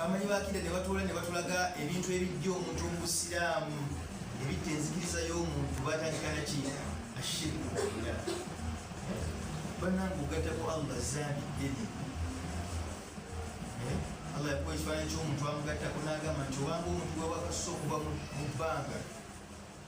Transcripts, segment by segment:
amanyi bakida nebatoola nebatulaga ebintu ebijja omuntu omubusiraamu ebijja enzikiriza y'omuntu batandikana ki ashirku billah banange ogatako allah zambi ddene eh? allah yakuwa ekifaananyi ky'omuntu amugattako n'agamba nti obanga omuntu wewakassa okuva mu bbanga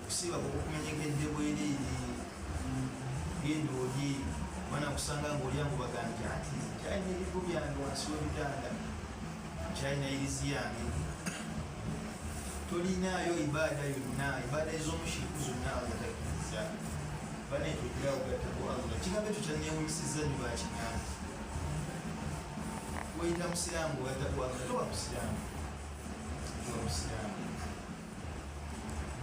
okusiiba kukumenyegedde bwereere genda olye mwana kusanga ngaolyangu bagambye ati kyalina ebigo byange wansi webitanda kyalina irizi yange tolinaayo ibaada yonna ibaada ezomushiriku zonna agatakiriza banekyogiraogataaalla kigambo ekyo kyanewunyisiza nyo bakigambo weyita musiraamu ogatakwagala toba musiraamu toba musiraamu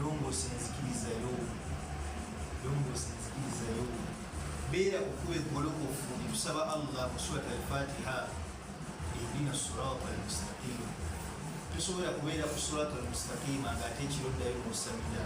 longoosa enzikiriza yo longoosa enzikiriza yo beera kukuba eggolokofu etusaba allah mu surat alfatiha edina surat almustaqima tosobola kubeera ku surat almustaqima ngaate ekiro ddayo musamira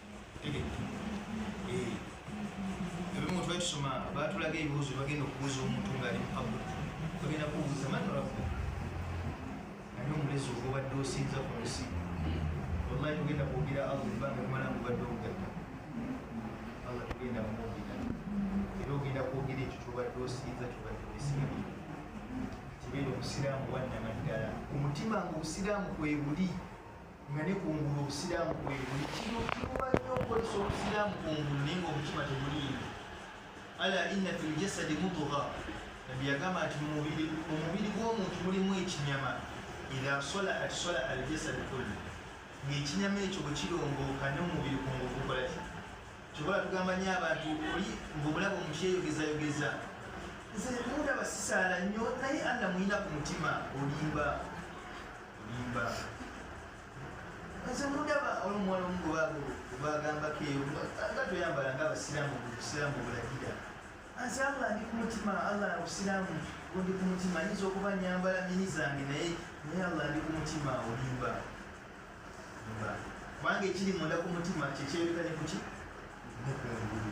ebimu twetusoma batulaga ebibuuzo bagenda okubuuza omuntu ngaali mupabu bagenda kubuuza manolaku ani omulezi oba obadde osinza ku nsi wallahi tugenda kwogera allah ebanga limala ngubadde obugatta allah tugenda kumwogera era ogenda kwogera ekyo kyobadde osinza kyobadde wesigabi kibeera omusiraamu wannamaddala omutima nga obusiraamu kwebuli nga ne kungulu obusiraamu kwebuli kino kiruba nnyo okozesa obusiraamu kungulu naye nga omutima teguliimu ala inna fi ljasadi mutuga nabbi yagamba nti mumubiri gw'omuntu mulimu ekinyama idha salaat sala aljasadi kullu ngaekinyama ekyo bwe kirongooka n'omubiri kungulu gukola ki kyobola tugamba nyo abantu oli ngaomulaba omukyeyogezayogeza nze mundaba sisaala nnyo naye alla mulina ku mutima olimba mudaba olumuwala omugobago gwagambako eyo nga toyambala nga abasiramu obusiramu obulagira ansi allah ndi ku mutima allah obusiramu ndi ku mutima nyinza okuba nyambala mini zange naye naye allah ndi ku mutima olimba kubanga ekiri munda ku mutima kyekyeyoleka ne kuki nekungulu